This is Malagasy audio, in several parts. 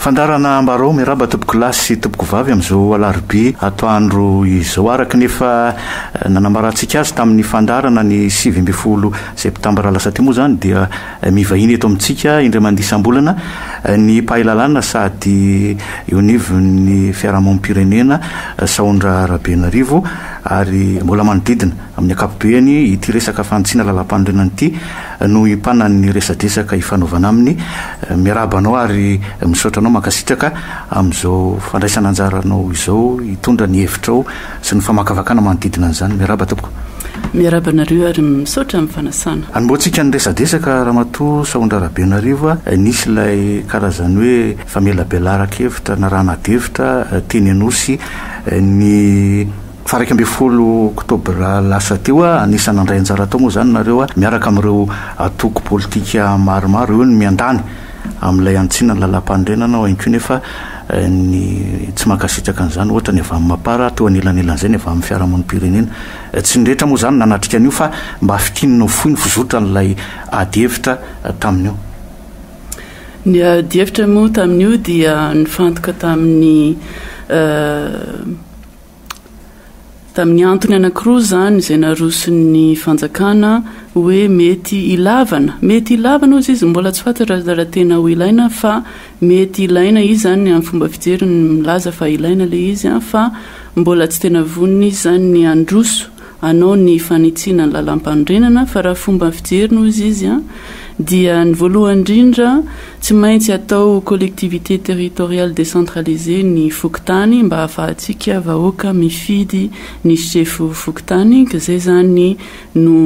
Fandaharana Ambarao miarahaba tompokolahy sy tompokovavy amin'izao alarobia atoandro izao. Araka ny efa nanambarantsika azy tamin'ny fandaharana ny sivy ambin'ny folo septambra lasa teo moa izany dia mivahiny eto amintsika indray mandeha isam-bolana ny mpahay lalàna sady eo anivon'ny fiarahamonim-pirenena Sahondra Rabenarivo ary mbola manodidina amin'ny ankapobeny ity resaka fanitsiana lalàmpanorenana ity no hipanan'ny resadresaka hifanaovana aminy. Miarahaba anao ary misaotra anao mankasitraka amin'izao fandraisana anjaranao izao hitondra ny hevitrao sy ny famakavakana manodidina an'izany. Miarahaba tompoko. Miarahaba anareo ary misaotra amin'ny fanasana. Hanombohantsika ny resadresaka Ramatoa Sahondra Rabenarivo a! Nisy ilay karazany hoe famelabelaran-kevitra na raha nadefitra teny Anosy ny. Faha iraika ambin'ny folo oktobra lasa teo, anisan'ny nandray anjara tao moa izany nareo miaraka amin'ireo antoko politika maromaro, eo ny miandany amin'ilay antsinan'ny lalàmpanorenana ao ihany koa nefa ny tsy mankasitraka an'izany ohatra ny avy amin'ny Mapar ary teo anelanelan'izay ny avy amin'ny fiarahamonim-pirenena. Tsy ny rehetra moa izany nanatrika an'io fa mba fintinina ho fohy ny fizotran'ilay adihevitra tamin'io. Ny adihevitra moa tamin'io dia nifantoka tamin'ny. Tamin'ny antony anankiroa izany izay naroson'ny fanjakana hoe mety ilavana. Mety ilavana hozy izy, mbola tsy fantatra raha tena ho ilaina fa mety ilaina izy izany amin'ny fomba fijeriny milaza fa ilaina ilay izy fa mbola tsy tena vonona izy izany ny handroso. hanao ny fanitsiana ny lalampanorenana fa raha fomba fijeriny hozy izy an dia ny voalohany indrindra tsy maintsy atao collectivité territoriale décentralisée ny fokontany mba hahafahantsika vahoaka mifidy ny sefo fokontany ka izay izany no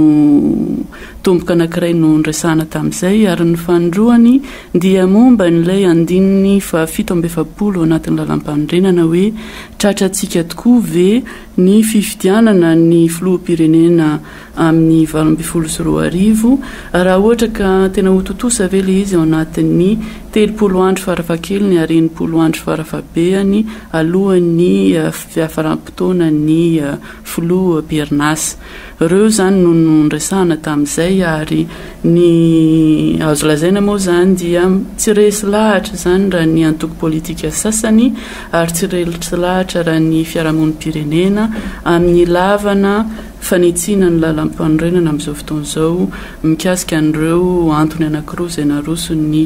tomboka anankiray nondresahana tamin'izay ary ny fanindroany dia momba an'ilay andininy fahafito amby efapolo ao anatin'ny lalampanorenana hoe tratrantsika tokoa ve Ny fifidianana ny filoham-pirenena amin'ny valo ambin'ny folo sy roa arivo, raha ohatra ka tena ho tontosa ve ilay izy ao anatin'ny telopolo andro farafahakeliny ary enimpolo andro farafahabehany alohan'ny fiafaram-potoanan'ny filoham-perinasa. Ireo izany no noresahana tamin'izay ary ny azo lazaina moa izany dia tsy resy lahatra izany raha ny antoko politika sasany ary tsy resy lahatra raha ny fiarahamonim-pirenena amin'ny ilavana fanitsiana ny lalàmpanorenana amin'izao fotoana izao mikasika an'ireo antony anankiroa izay naroson'ny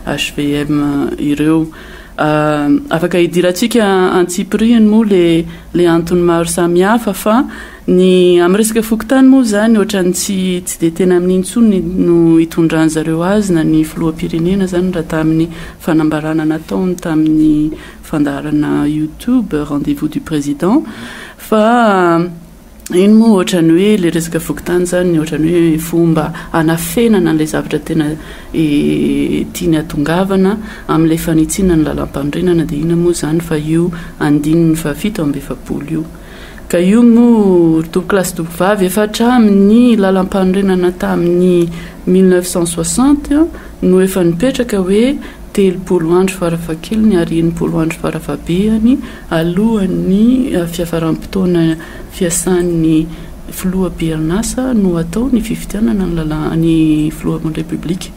hvm ireo. Afaka hidirantsika antsipirihiny moa ilay antony maro samihafa fa ny amin'ny resaka fokontany moa izany ohatran'ny tsy tsy dia tena amin'iny intsony no hitondran'ny zareo azy na ny filoham-pirenena izany raha tamin'ny fanambarana nataony tamin'ny fandaharana youtube rendez-vous du président fa Iny moa ohatrany hoe ilay resaka fokontany izany ohatrany hoe fomba hanafenana an'ilay zavatra tena tiany hatongavana amin'ilay fanitsiana ny lalampanorenana dia inona moa izany fa io andininy fahafito amby efapolo io. Ka io moa ry tompokolahy sy tompokovavy efa hatramin'ny lalampanorenana tamin'ny mille neuf cent soixante no efa nipetraka hoe telopolo andro farafahakeliny ary enimpolo andro farafahabehany Alohan'ny fiafaram-potoana fiasan'ny filoha be arin'asa no atao ny fifidianana ny lalà ny filohan'ny Repoblika.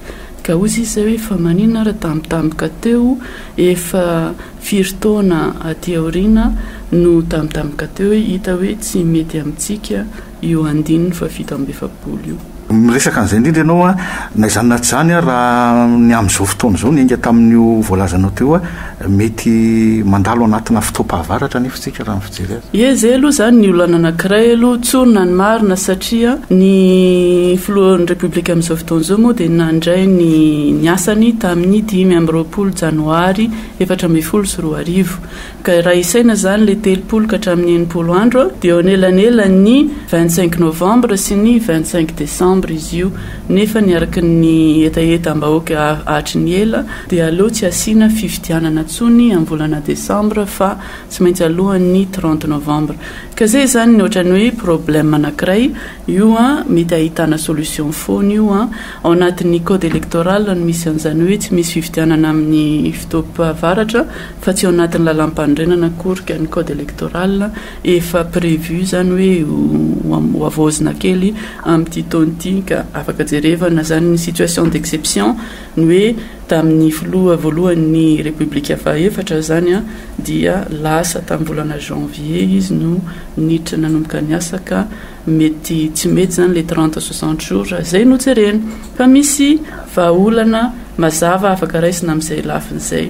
Ka hoy izy izay hoe fa maninona ary tambitamboka teo efa firy taona aty aoriana no tambitamboka teo hoe hita hoe tsy mety amintsika io andininy fahafito amby efapolo io. Miresaka an'izay indrindra ianao an, na izany na tsy izany an, raha ny amin'izao fotoana izao, niainga tamin'io voalazanao teo an, mety mandalo anatina fotoam-pahavaratra anefa isika raha ny fijery azy. Ie, izay aloha izany ny olana anankiray aloha, tsorina ny marina satria ny filohan'ny Repoblika amin'izao fotoana izao moa dia nandray ny ny asany tamin'ny dimy amby roapolo janoary efatra ambin'ny folo sy roa arivo. Ka raha isaina izany ilay telopolo ka hatramin'ny enimpolo andro dia eo anelanelan'ny vingt cinq novembre sy ny vingt cinq decembre izy io nefa ny araka ny hetahetam-bahoaka hatry ny ela dia aleo tsy asiana fifidianana intsony amin'ny volana decembre fa tsy maintsy alohan'ny trente novembre ka zay izany ny ohatran'ny hoe problème anankiray io an mety ahitana solution foana io an ao anatin'ny code électoral no misy an'izany hoe tsy misy fifidianana amin'ny fotoam-pahavaratra fa tsy ao anatin'ny lalampanorenana akory ka ny code electoral efa prévu izany hoe ho havaozina kely amin'ity taona ity ka afaka jerevana izany ny situation d'exception ny hoe tamin'ny filoha voalohan'ny repoblika fahaefatra izany dia lasa tamin'ny volana janvier izy no niditra nanomboka ny asa ka Mety tsy mety zany le trente soixante jours raha zay no jerena fa misy vahaolana mazava afaka raisina amizay lafiny zay.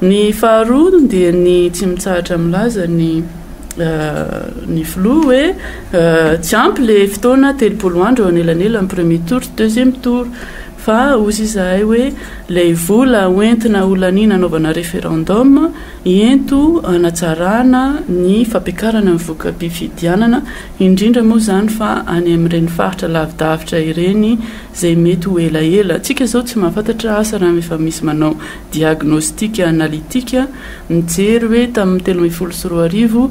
Ny faharoa dia ny tsy mitsahatra milaza ny ny filoha hoe tsy ampy le fotoana telopolo andro eo anelanelan'ny premier tour sy deuxième tour fa ozy izahay hoe lay vola hoentina holaniana hanaovana referendum ento hanatsarana ny fampiakarana ny voka-pifidianana indrindra moa izany fa any amin'ireny faritra lavidavitra ireny izay mety ho elaela, tsika izao tsy mahafantatra asa raha efa misy manao diagnostic analytique mijery hoe tamin'ny telo ambin'ny folo sy roa arivo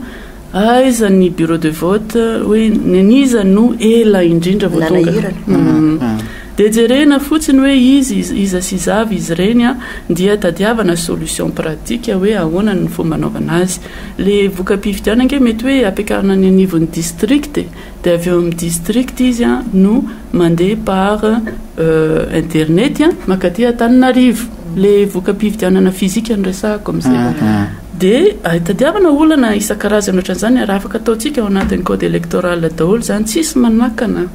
aiza ny bureau de vote hoe ny an'iza no ela indrindra vao tonga dia jerena fotsiny hoe izy iza sy iza avy izy ireny dia tadiavana solution pratique hoe ahoana ny fomba anaovana azy. Le voka-pifidianana ange mety hoe ampiakarina any anivon'ny district e, de avy eo amin'ny district izy an no mandeha par internet an makaty Antananarivo, le voka-pifidianana physique no resahako amin'izay, de itadiavana olana isan-karazany ohatran'izany ary afaka ataontsika ao anatin'ny code electoral daholo izany, tsisy manakana.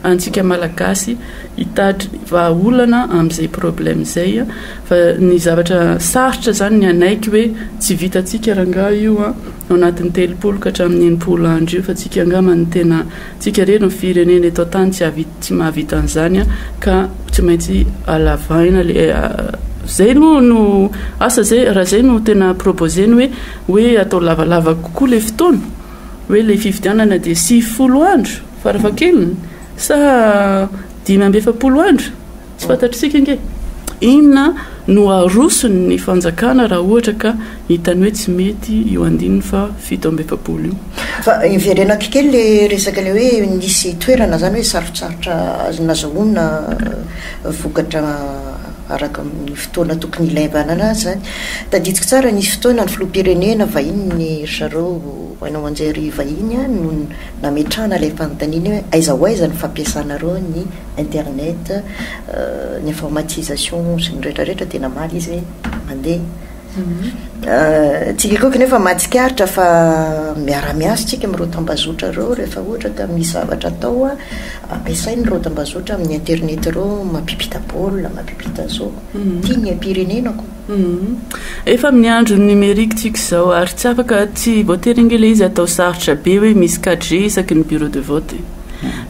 antsika malagasy hitady vahaolana amin'izay problème izay fa ny zavatra sarotra zany ny anaiky hoe tsy vitantsika rangaha io a ao anatin'ny telopolo ka hatramin'ny enimpolo andro io fa tsika angamba ny tena tsika rery ny firenena eto an-tany tsy havita tsy mahavita an'izany a ka tsy maintsy alavaina le zay no no asa zay raha zay no tena proposer ny hoe hoe atao lavalava kokoa le fotoana hoe le fifidianana dia sivifolo andro Farafahakeliny? Sa dimy amby efapolo andro? Tsy fantatr'isika ange. Inona no aroson'ny fanjakana raha ohatra ka hitany hoe tsy mety io andininy faha fito amby efapolo io? Fa iverenako kely le resaka le hoe nisy toerana zany hoe sarotsarotra azo nazahoana vokatra araka ny fotoana tokony hilaivana azy zany. Tadidiko tsara nisy fotoana ny filoham-pirenena vahiny ry zareo haino aman-jery vahiny no nametrahana ilay fanontaniana hoe aiza ho aiza ny fampiasanareo ny internet, ny informatisation sy ny rehetra rehetra dia namaly izy hoe mandeha. Tsikekoiko nefa mahatsikaritra fa miara-miasa isika amin'ireo tambazotra ireo rehefa ohatra ka misy zavatra atao ampiasaina ireo tambazotra amin'ny internet ireo mampiampita baolina, mampiampita zao, tian'ny haipirenena koa. Efa amin'ny andron'ny numérique tsika izao ary tsy afaka tsy voatery ange ilay izy atao sarotra be hoe misy 4G isaky ny bureau de vote e.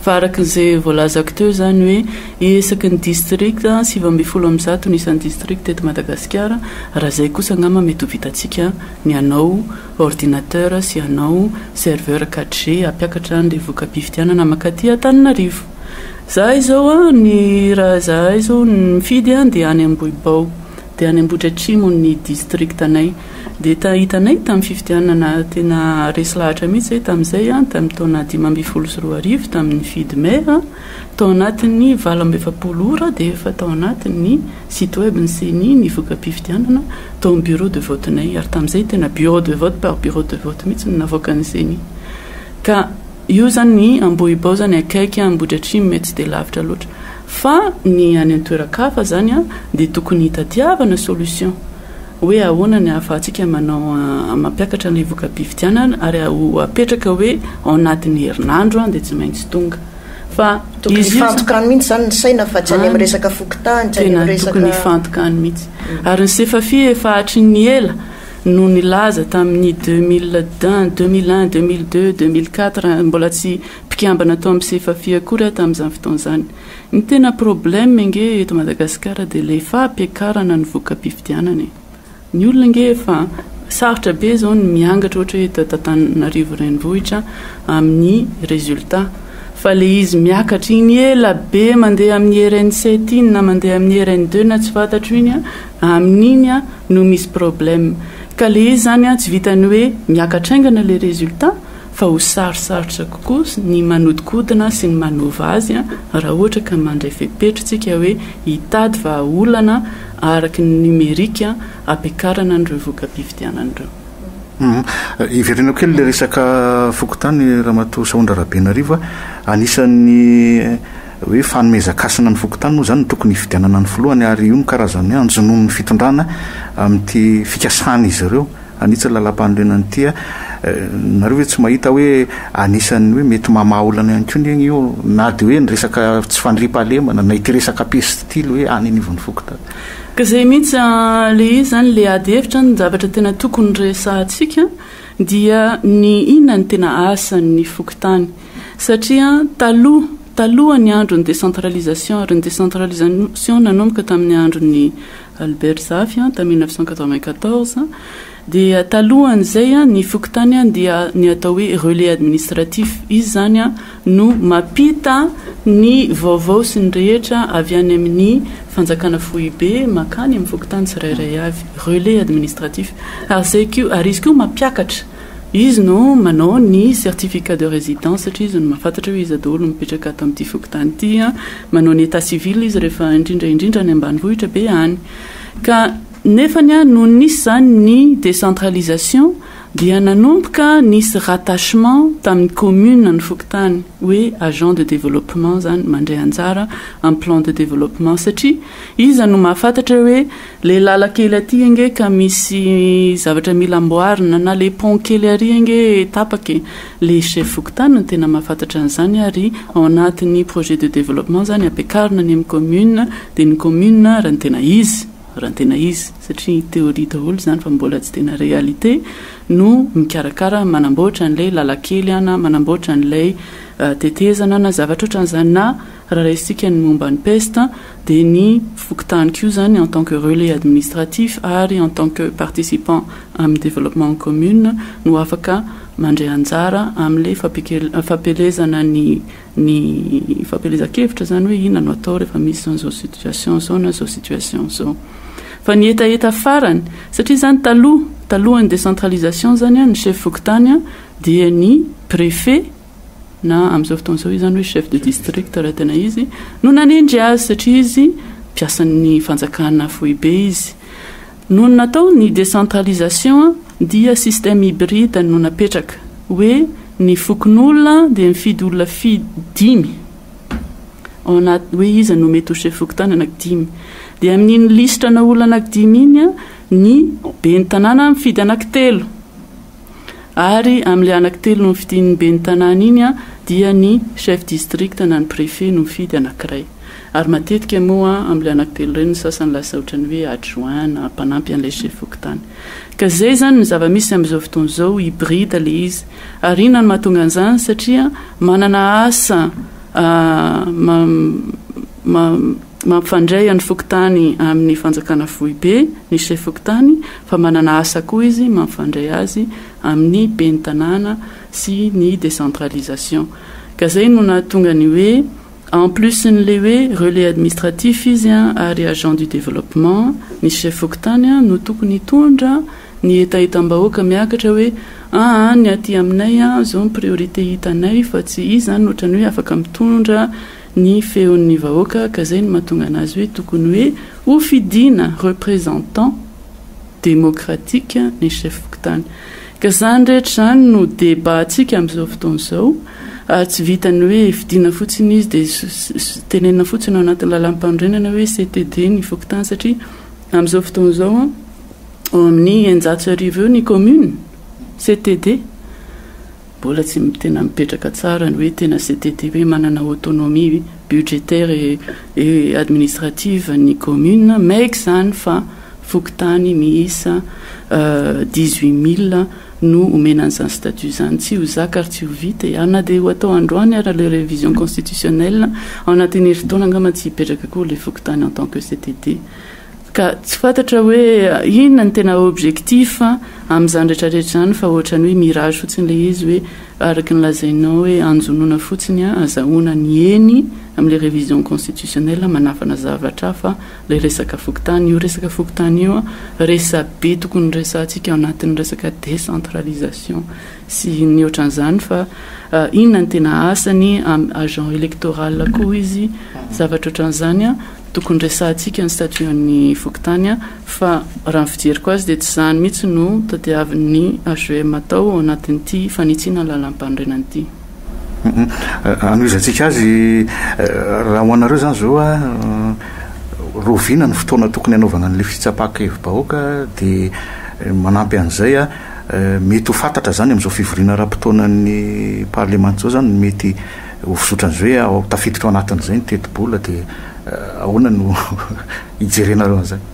Fa araka izay voalazako teo izany hoe isaky ny district sivy ambin'ny folo amby zato ny isan'ny district eto Madagasikara, raha izay kosa angamba mety ho vitantsika ny hanao ordinateur sy hanao serveur 4G hampiakatra an'ilay voka-pifidianana mankaty Antananarivo. Izahay izao an, ny raha izahay izao ny mifidy an dia any Ambohibao, dia any Ambohidratrimo ny distriktanay. Dia ta, hitanay tamin'ny fifidianana tena resy lahatra mihitsy izay tamin'izay an, tamin'ny taona dimy ambin'ny folo sy roa arivo tamin'ny nifidy maire, tao anatin'ny valo amby efapolo ora dia efa tao anatin'ny site web ny ceni ny voka-pifidianana tao amin'ny bureau de vote-nay, ary tamin'izay tena bureau de vote par bureau de vote mihitsy no navoakan'ny ceni. Ka. Io zany Ambohibao zany akaiky Ambohidratrimo mety tsy dia lavitra loatra fa ny any an-toeran-kafa zany dia tokony hitadiavana solution hoe ahoana ny ahafahantsika manao mampiakatra an'ilay voka-pifidianana ary ho apetraka hoe ao anatin'ny herinandro dia tsy maintsy tonga fa Tokony hifantoka any mihitsy zany ny saina fa tsy any amin'ny resaka fokontany, tsy any amin'ny resaka. Tena tokony hifantoka any mihitsy. Ary ny Sefafi efa hatry ny ela no nilaza tamin'ny deux mille d'un, deux mille un, deux mille deux, deux mille quatre, mbola tsy mpikambana tao amin'ny Sefafi akory aho tamin'izany fotoana izany. Ny tena problème ange eto Madagasikara dia ilay fampiakarana ny voka-pifidianana e! Ny olona ange efa sarotra be izao ny miangatra ohatra hoe eto Antananarivo Renivohitra amin'ny résultat fa ilay izy miakatra iny ela be mandeha amin'ny RN sept iny na mandeha amin'ny RN deux na tsy fantatro iny an! Amin'iny an no misy problème. Ka le izy zany an tsy vitan'ny hoe miakatra haingana le résultat fa ho sarosarotra kokoa ny manodikodina sy ny manova azy an raha ohatra ka mandray fepetra tsika hoe hitady vahaolana araky ny numérique an ampiakarana an'ireo voka-pifidianana ireo. Humm. Hiverenako kely ilay resaka fokontany Ramatoa Sahondra Rabenarivo a. Anisan'ny. Hoe fanomezan-kasina ny fokontany moa izany no tokony hifidianana ny filohany ary io no karazan'ny anjonon'ny fitondrana amin'ity fikasan'izy ireo hanitsy ny lalàmpanorenana ity. Nareo ve tsy mahita hoe anisan'ny hoe mety mamaha olana ihany koa anie io na dia hoe ny resaka tsy fandriampahalemana na ity resaka peste ity ilay hoe any anivon'ny fokontany? Ka izay mihitsy ilay izy izany, ilay ady hevitra, ny zavatra tena tokony resahantsika dia ny inona no tena asan'ny fokontany. Satria taloha, taloha ny andro ny décentralisation, ary ny décentralisation nanomboka tamin'ny andron'i Albert Zafy tamin'ny mille neuf cent quatre-vingt-quatorze, dia talohan'izay ny fokontany dia ny atao hoe relais administratif, izy izany no mampita ny vaovao sy ny rehetra avy any amin'ny fanjakana foibe mankany amin'ny fokontany tsirairay avy, relais administratif, ary izay koa, ary izy koa mampiakatra. Izy no manao ny certificat de résidence satria izy no mahafantatra hoe iza daholo no mipetraka ato amin'ity fokontany ity. Manao ny état civil izy rehefa indrindra indrindra any ambanivohitra be any. Ka nefany nony nisy izany ny décentralisation dia nanomboka nisy rattachement tamin'ny commune ny fokontany hoe agent de développement izany mandray anjara amin'ny plan de développement satria iza no mahafantatra hoe Le lalakely aty ange ka misy zavatra mila amboarina na le pont kely ary ange tapaka e! le chef fokontany no tena mahafantatra an'izany ary ao anatin'ny projet de développement zany ampiakarina any amin'ny commune de ny commune raha ny tena izy, raha ny tena izy satria théorie daholo izany fa mbola tsy tena réalité, no mikarakara manamboatra an'ilay lalakely an na manamboatra an'ilay tetezana na zavatra ohatran'izany na raha raisintsika ny momba ny peste. dia ny fokontany koa izany en tant que relais administratif ary en tant que participant amin'ny développement en commune no afaka mandray anjara amin'ilay fampielezana ny ny fampielezan-kevitra izany hoe inona no atao rehefa misy izao izao situation izao na izao situation izao. Fa ny hetaheta farany, satria izany taloha, talohan'ny décentralisation izany an, ny chef fokontany dia ny préfet, na amin'izao fotoana izao izany hoe chef de district raha tena izy no nanendry azy satria izy mpiasan'ny fanjakana foibe izy. Nony natao ny décentralisation dia système hybride no napetraka hoe ny fokonolona dia mifidy olona fi dimy ao anaty hoe iza no mety ho chef fokontany anaky dimy dia amin'iny lisitra ana olona anaky dimy iny ny ben'ny tanàna mifidy anaky telo Ary amin'ilay anankitelo nofidian'ny ben'ny tanàna iny dia ny chef district na ny préfet no mifidy anankiray. Ary matetika moa amin'ilay anankitelo ireny ny sasany lasa ohatran'ny hoe adjoint na mpanampy an'ilay chef fokontany. Ka izay izany no zava-misy amin'izao fotoana izao, hybride ilay izy. Ary inona no mahatonga an'izany? Satria manana asa mampifandray an'ny fokontany amin'ny fanjakana foibe ny chef fokontany, fa manana asa koa izy mampifandray azy amin'ny ben'ny tanàna sy ny décentralisation ka izay no nahatonga ny hoe en plus n'le hoe relais administratif izy ary agent du développement ny chef fokontany no tokony hitondra ny hetahetam-bahoaka miakatra hoe aa ny aty aminay zao ny priorité hitanay fa tsy izy zany ohatran'ny hoe afaka mitondra ny feon'ny vahoaka ka zay no mahatonga anazy hoe tokony hoe ho fidina représentant démocratique ny chef fokontany ka zany rehetra zany no débat antsika amzao fotoana zao ary tsy vitany hoe fidina fotsiny izy de tenenina fotsiny ao anatin'ny lalam-panorenana hoe CTD ny fokontany satria amzao fotoana zao an ao amin'ny eninjato sy arivo eo ny commune CTD Mbola tsy tena mipetraka tsara ny hoe tena CTTP manana autonomie budgétaire et administrative ny commune maiky izany fa fokontany miisa dix huit mille no omena an'izany statut izany. Tsy ho zaka ary tsy ho vita e! Ary na dia ho atao androany ara le révision constitutionnelle, ao anatin'ny herintaona angamba tsy hipetraka akory ilay fokontany en tant que CTT. Ka tsy fantatra hoe inona no tena objectif amin'izany rehetra rehetra izany fa ohatran'ny hoe mirage fotsiny ilay izy hoe araka ny lazainao hoe anjonoana fotsiny azahoana ny eny amin'ilay révision constitutionnelle manafana zavatra hafa ilay resaka fokontany. Io resaka fokontany io resabe tokony resahantsika ao anatin'ny resaka décentralisation. sy ny ohatran'izany fa inona ny tena asany, agent electoral koa izy, zavatra ohatran'izany an, tokony resahantsika ny statut an'ny fokontany an, fa raha ny fijeriko azy dia tsy izany mihitsy no tadiavin'ny HVM atao ao anatin'ity fanitsiana ny lalampanorenana ity. Anohizantsika azy, raha ho anareo izany izao an, rahoviana ny fotoana tokony hanaovana an'ilay fitsapan-kevi-bahoaka dia manampy an'izay an, Mety ho fantatra izany amin'izao fivoriana ara-potoanan'ny parlemanta izao izany ny mety ho fizotrany izay hoe ao tafiditra ao anatin'izay ny tetibola dia ahoana no hijerenareo an'izany?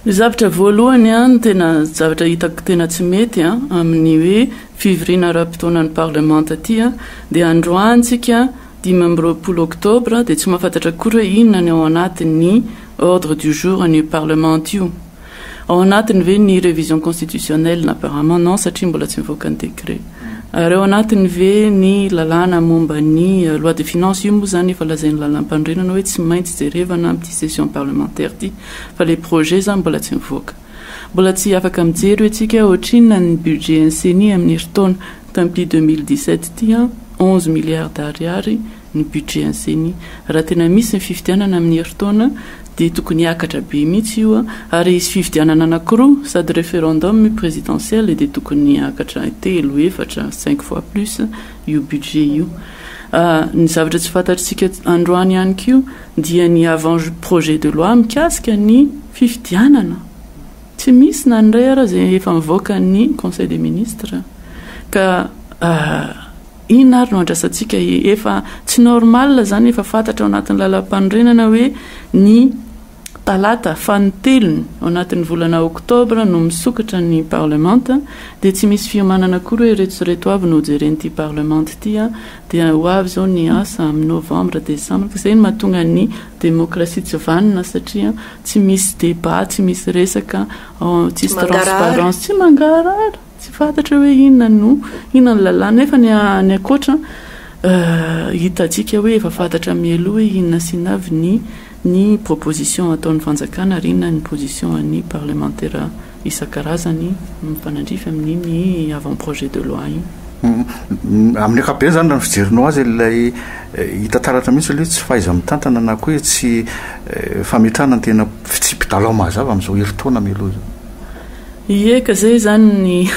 Ny zavatra voalohany an, ny tena zavatra hitako tena tsy mety an, amin'ny hoe fivoriana ara-potoanan'ny parlemanta ity an, dia androany tsika dimy amby roapolo oktobra dia tsy mahafantatra akory hoe inona ny ao anatin'ny ordre du jour an'io parlemanta io. Ao anatiny ve ny révision constitutionnelle apparemment non satria mbola tsy nivoaka ny décret. Ary ao anatiny ve ny lalàna momba ny loi de finance io moa izany efa lazain'ny lalàmpanorenana hoe tsy maintsy jerevana amin'ity session parlementaire ity fa ilay projet izany mbola tsy nivoaka. Mbola tsy afaka mijery hoe tsika hoe ohatrinona ny budget n'ny ceni amin'ny herintaona tamin'ity deux mille dix sept ity an onze milliards d'ariary ny budget an'ny ceni. Raha tena misy ny fifidianana amin'ny herintaona dia tokony hiakatra be mihitsy io ary hisy fifidianana anankiroa sady referendum io presidentiel dia tokony hiakatra telo, efatra, cinq fois plus io budget io. Ny zavatra tsy fantatritsika androany ihany koa dia ny avant projet de loi mikasika ny fifidianana. Tsy misy na ny iray ara izay efa nivoaka ny conseil des ministres ka Inona ary no andrasantsika e? Efa tsy normal izany efa fantatra ao anatin'ny lalampanorenana hoe ny talata fanintelony ao anatin'ny volana octobre no misokatra ny parlement dia tsy misy fiomanana akory hoe ireto sy ireto avy no hojeren'ity parlement ity dia ho avy izao ny asa amin'ny novembre, decembre ka izay no mahatonga ny demokrasia tsy vanona satria tsy misy debat, tsy misy resaka, tsisy transparence, tsy mangarahara. Tsy fantatra hoe inona no inona ny lalàna nefa ny any ankoatra hitantsika hoe efa fantatra mialoha hoe inona sy inona avy ny ny proposition ataon'ny fanjakana ary inona ny position an'ny parlemantera isan-karazany mifanandrify amin'iny avant projet de loi iny. Amin'ny ankapobeny izany raha ny fijerinao azy ilay hita taratra mihitsy aloha hoe tsy fahaiza-mitantana na koa hoe tsy fametrahana ny tena tsy mpidalao mahazava amin'izao herintaona mialoha izao. Ie ka zay zany ny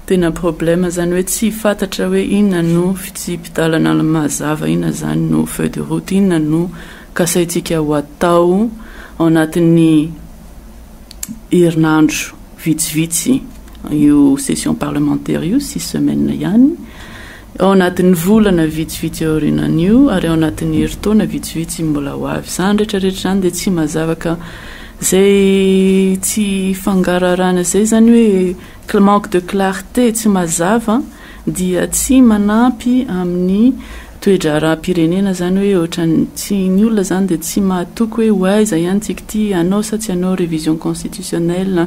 tena problème zany hoe tsy fatatra hoe inona no fitsipi-dalana mazava inona zany no feuille de route inona no kasaintsika ho atao ao anatin'ny herinandro vitsivitsy io session parlementaire io six semaines ihany Ao anatin'ny volana vitsivitsy aorianan'io ary ao anatin'ny herintaona vitsivitsy mbola ho avy. Izany rehetrarehetra izany dia tsy mazava ka izay tsy fangaraharana izay izany hoe cl manque de clarté, tsy mazava, dia tsy manampy amin'ny toe-draharaham-pirenena izany hoe ohatran'ny tsy, ny olona izany dia tsy mahatoky hoe ho aiza ihany tsika ity, hanao sa tsy hanao révision constitutionnelle,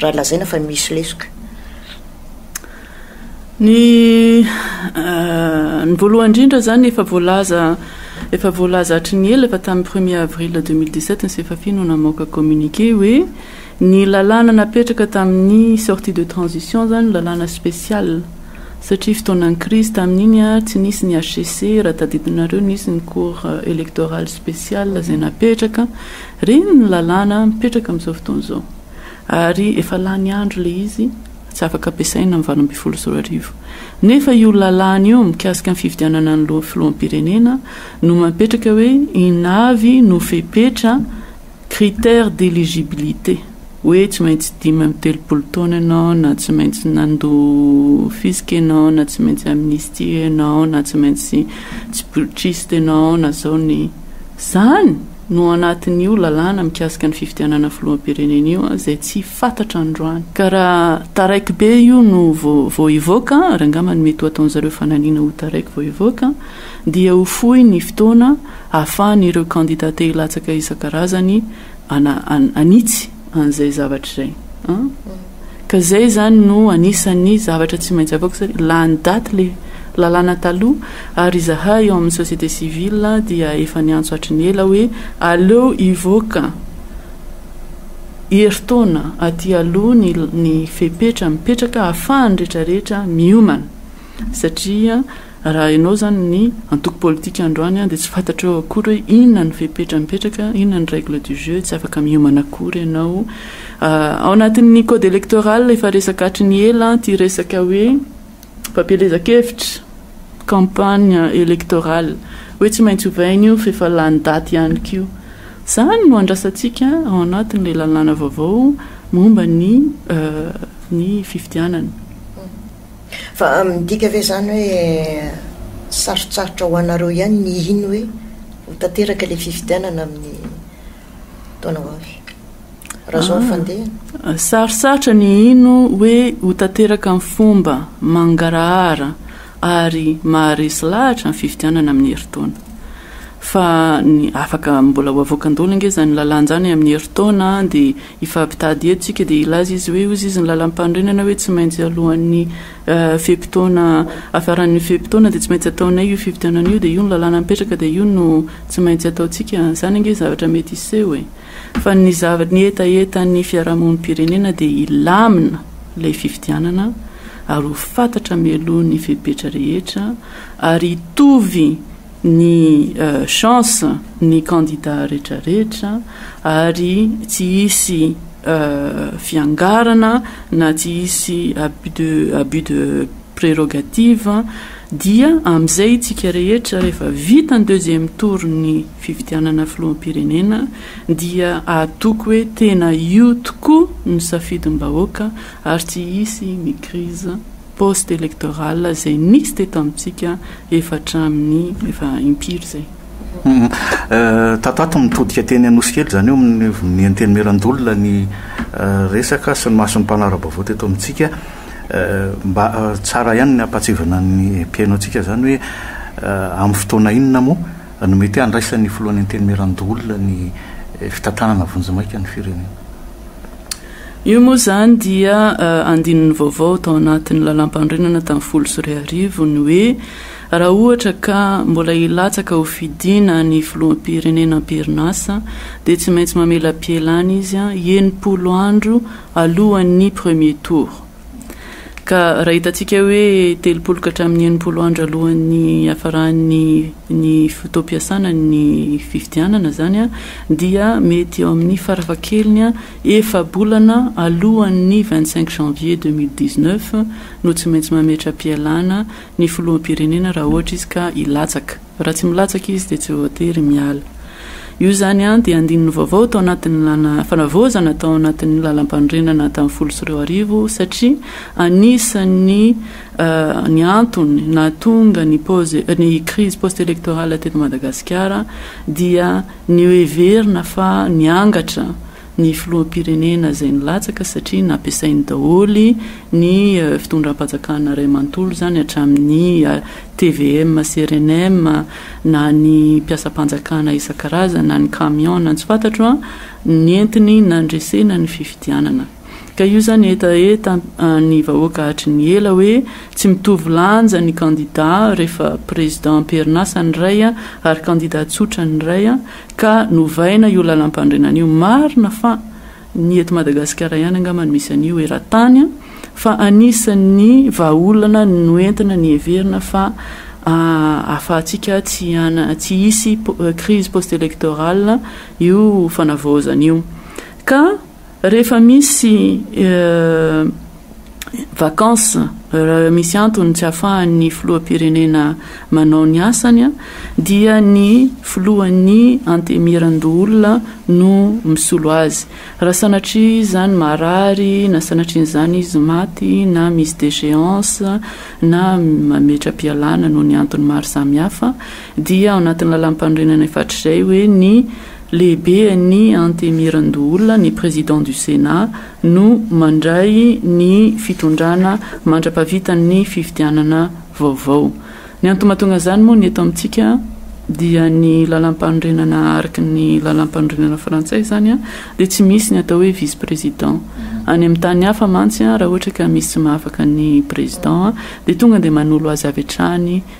raha lazaina fa misy lesoka. Ny ny voalohany indrindra zany efa voalaza efa voalaza hatry ny ela efa tamin'ny premier avril 2017 ny Sefafi no namoaka communiqué hoe ny lalàna napetraka tamin'ny sortie de transition zany lalàna spécial satria fotoanan'ny crise tamin'iny a tsy nisy ny HCC raha tadidinareo nisy ny cour électorale spéciale zay napetraka reny ny lalàna mipetraka amin'izao fotoana izao. ary efa lany andro ilay izy tsy afaka ampiasaina amin'ny valo ambin'ny folo sy roa arivo. Nefa io lalàna io mikasika ny fifidianana ny filoham-pirenena no mampetraka hoe inona avy no fepetra, critères d'éligibilité, hoe tsy maintsy dimy amby telopolo taona ianao na tsy maintsy nandoa fisc ianao na tsy maintsy amnistie ianao na tsy maintsy tsy putschiste ianao na zao ny. Izany! no ao anatin'io lalàna mikasika ny fifidianana filoham-pirenena io izay tsy fantatra androany ka raha taraiky be io no vao hivoaka ary angamba ny mety ho ataon'i zareo fanalina ho taraiky vao hivoaka dia ho fohy ny fotoana ahafahan'ireo kandida te hilatsaka isan-karazany hanitsy an'izay zavatra izay an! ka izay izany no anisan'ny zavatra tsy maintsy avaoko satria lany daty ilay lalàna taloha ary izahay eo amin'ny société civile dia efa niantso hatry ny ela hoe aleo hivoaka herintaona aty aloha ny ny fepetra mipetraka ahafahan'ny rehetrarehetra miomana satria raha ianao izany ny antoko politika androany dia tsy fantatrao akory hoe inona ny fepetra mipetraka, inona ny règle du jeu, tsy afaka miomana akory ianao. Ao anatin'ny code électoral efa resaka hatry ny ela ity resaka hoe fampielezan-kevitra, campagne électorale, hoe tsy maintsy ovaina io fa efa lany daty ihany koa. Izany no andrasantsika ao anatin'ilay lalàna vaovao momba ny ny fifidianana. Fa midika ve izany hoe sarotsarotra ho anareo ihany ny hino hoe ho tanteraka ilay fifidianana amin'ny taona ho avy? Raha izao ny fandehany? Sarotsarotra ny hino hoe ho tanteraka amin'ny fomba mangarahara ary maharesy lahatra ny fifidianana amin'ny herintaona. Fa ny afaka mbola ho avoakan-doly ange izany lalanja any amin'ny herintaona dia Hifampitady eto isika dia hilaza izy hoe hozy izy ny lalam-panorenana hoe tsy maintsy alohan'ny fe-potoana hafaran'ny fe-potoana dia tsy maintsy ataonay io fifidianana io dia io ny lalàna mipetraka dia io no tsy maintsy ataontsika. Izany ange zavatra mety hiseho e! Fa ny zavatra, ny hetahetan'ny fiarahamonim-pirenena dia hilamina ilay fifidianana ary ho fantatra mialoha ny fepetra rehetra ary hitovy ny chance ny candidat retraretra ary tsy hisy fiangarana na tsy hisy abus de abus de prerogative dia amizay itsika rehetra rehefa vita ny deuxième tour ny fifidianana filoham-pirenena dia atoko hoe tena io tokoa no safidim-bahoaka ary tsy hisy ny crise poste electoral izay nisy teto amintsika efa hatramin'ny efa impiry izay. Tato ato mitodika teny Anosikely izany eo amin'ny ny Antenimierandoholona ny resaka sy ny mason'ny mpanara-baovao teto amintsika. Mba tsara ihany ny hampahatsiahivana ny mpihaino antsika izany hoe amin'ny fotoana inona moa no mety handraisan'ny filohan'ny Antenimierandoholona ny fitantanana vonjimaika ny firenena. Io moa izany dia andininy vaovao tao anatin'ny Lalàmpanorenana tamin'ny folo sy roa arivo ny hoe raha ohatra ka mbola hilatsaka ho fidiana ny Filoham-pirenena am-perinasa dia tsy maintsy mamelapielana izy enimpolo andro alohan'ny premier tour. Ka raha hitantsika hoe telopolo ka hatramin'ny enimpolo andro alohan'ny hiafaran'ny ny fotoam-piasana ny fifidianana izany dia mety eo amin'ny farafahakeliny efa-bolana alohan'ny vingt cinq janvier deux mille dix neuf no tsy maintsy mametra-pialana ny filoham-pirenena raha ohatra izy ka hilatsaka Raha tsy milatsaka izy dia tsy voatery miala. Io izany an, dia andininy vaovao tao anatin'ny lana fanavaozana tao anatin'ny lalampanorenana tamin'ny folo sy roa arivo satria anisan'ny ny antony nahatonga ny pause ny crise post electorale teto Madagasikara dia ny hoheverina fa niangatra ny filoham-pirenena izay nilatsaka satria nampiasainy daholo ny fitondram-panjakana iray manontolo izany hatramin'ny tvm sy rnm na ny mpiasam-panjakana isan-karazany na ny camion na ny tsy fantatro an, nentiny nandresena ny fifidianana. Ka io izany hetaheta ny vahoaka hatry ny ela hoe tsy mitovy lanja ny kandida rehefa prezidam-perinasa ny iray ary kandida tsotra ny iray Ka novaina io lalampanorenana io. Marina fa ny eto Madagasikara ihany angamba no misy an'io eran-tany an! Fa anisan'ny vahaolana noentina niheverina fa ahafahantsika tsy tsy hisy crise post-electorale io fanavaozana io. Ka. Rehefa misy vacances, misy antony tsy ahafahan'ny filoham-pirenena manao ny asany dia ny filohan'ny Antemierandoholona no misolo azy. Raha sanatria izy izany marary na sanatrian'izany izy maty na misy déchéance na mametra-pialana noho ny antony maro samihafa dia ao anatin'ny lalàmpanorenana efa hatrizay hoe ny Lehibe an'i Antemirandoola ny Président du Sénat no mandray ny fitondrana mandra-pavitan'ny fifidianana vaovao. Ny antony mahatonga izany moa ny eto amintsika dia ny lalam-panorenana araka ny lalam-panorenana frantsay izany dia tsy misy ny atao hoe vice président. Any amin'ny tany hafa mantsy raha ohatra ka misy tsy mahafaka ny Président dia tonga dia manolo azy avy hatrany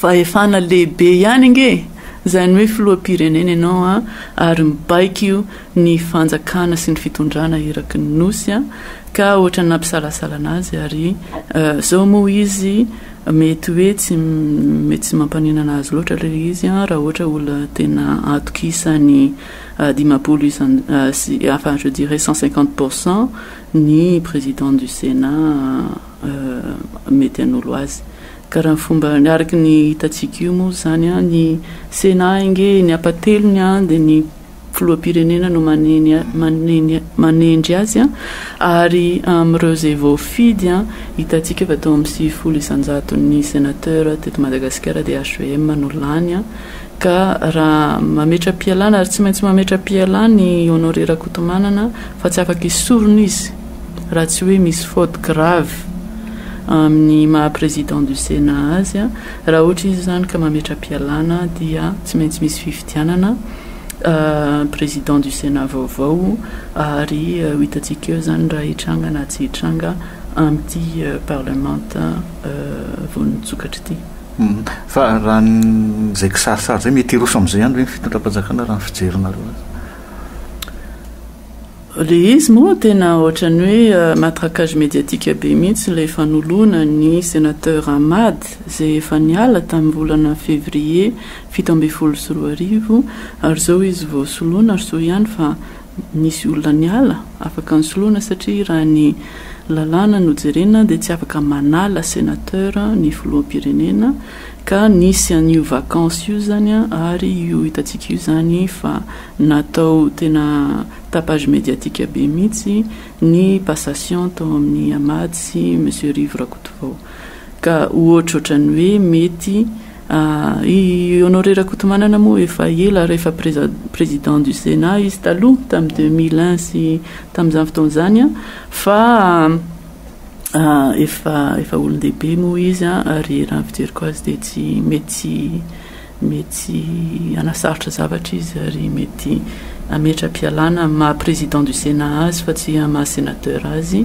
fahefana lehibe ihany ange e! izany hoe filoham-pirenena ianao an! ary mibaiko io ny fanjakana sy ny fitondrana eraky ny Nosy an! ka ohatran'ny nampisalasala anazy ary zao moa izy mety hoe tsy mety tsy mampaninana azy loatra le izy an! raha ohatra olona tena atokisany dimampolo isan sy enfin je dirais cent cinquante pour cent ny président du Sénat mety hanolo azy. Ka raha ny fomba, araka ny hitantsika io moa izany, ny Sénat ange eny am-pahatelony dia ny filoham-pirenena no manendry azy ary amin'ireo izay voafidy hitantsika fa teo amin'ny sivifolo isan-jaton'ny sénateur teto Madagasikara dia HVM no lany Ka raha mametra-pialana ary tsy maintsy mametra-pialana i Honoré Rakotomanana fa tsy afaka esorina izy raha tsy hoe misy faute grave amin'ny maha président du Sénat azy. Raha ohatra izy izany ka mametra-pialana dia tsy maintsy misy fifidianana président du Sénat vaovao ary ho hitantsika eo izany raha hitranga na tsy hitranga amin'ity parlement vao nitsokatra ity. Fa raha ny izay kisarisary izay mety hiroso amin'izay ihany ve ny fitondram-panjakana raha ny fijerinareo azy? Ilay izy moa tena ohatran'ny hoe matraquage médiatique be mihitsy ilay fanoloana ny sénateur Ahmad izay efa niala tamin'ny volana février fito ambin'ny folo sy roa arivo ary izao izy vao soloina ary soa ihany fa Nisy olona niala, afaka nisoloana satria raha ny lalàna no jerena dia tsy afaka manala senateur ny filoham-pirenena ka nisy an'io vacance io izany ary io hitantsika io izany fa natao tena tapage médiatique be mihitsy ny passation tao amin'ny Amad sy Monsieur Rivo Rakotovao ka ohatrohatran'ny hoe mety I Honoré Rakotomanana moa efa ela ary efa Président du Sénat izy taloha tamin'ny deux mille un sy tamin'izany fotoana izany an, fa efa efa olon-dehibe moa izy an, ary raha ny fijeriko azy dia tsy mety tsy mety tsy hanasarotra zavatra izy ary mety hametra-pialana amin'ny maha Président du Sénat azy fa tsy amin'ny maha Sénateur azy.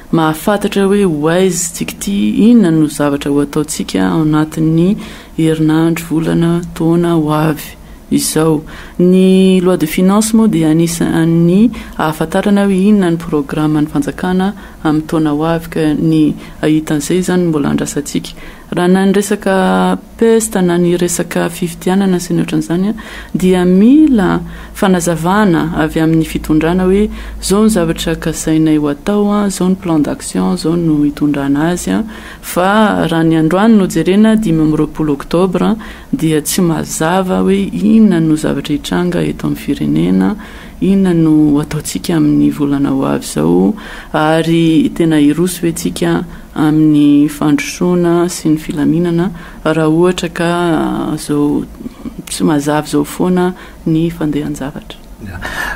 Mahafantatra hoe Waze tsika ity inona no zavatra ho ataontsika ao anatin'ny herinandro, volana, taona ho avy izao. Ny Loi de Finances moa dia anisan'ny ahafantarana hoe inona ny programan'ny fanjakana amin'ny taona ho avy ka ny ahita an'izay izany no mbola andrasantsika. Raha na ny resaka pesta na ny resaka fifidianana sy ny ohatran'izany dia mila fanazavana avy amin'ny fitondrana hoe izao ny zavatra kasainay ho atao, izao ny plan d'action, izao no hitondrana azy fa raha ny androany no jerena dimy amby roapolo octobre dia tsy mazava hoe inona no zavatra hitranga eto amin'ny firenena, inona no hataontsika amin'ny volana ho avy izao ary tena hiroso ve tsika? amin'ny fandrosoana sy ny filaminana raha ohatra ka zao tsy mazava zao foana ny fandehan-javatra.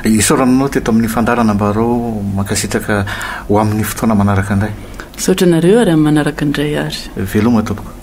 Isaoranao teto amin'ny fandaharana mba arao mankasitraka ho amin'ny fotoana manaraka indray. Misaotra anareo ary amin'ny manaraka indray ary. Veloma tompoko.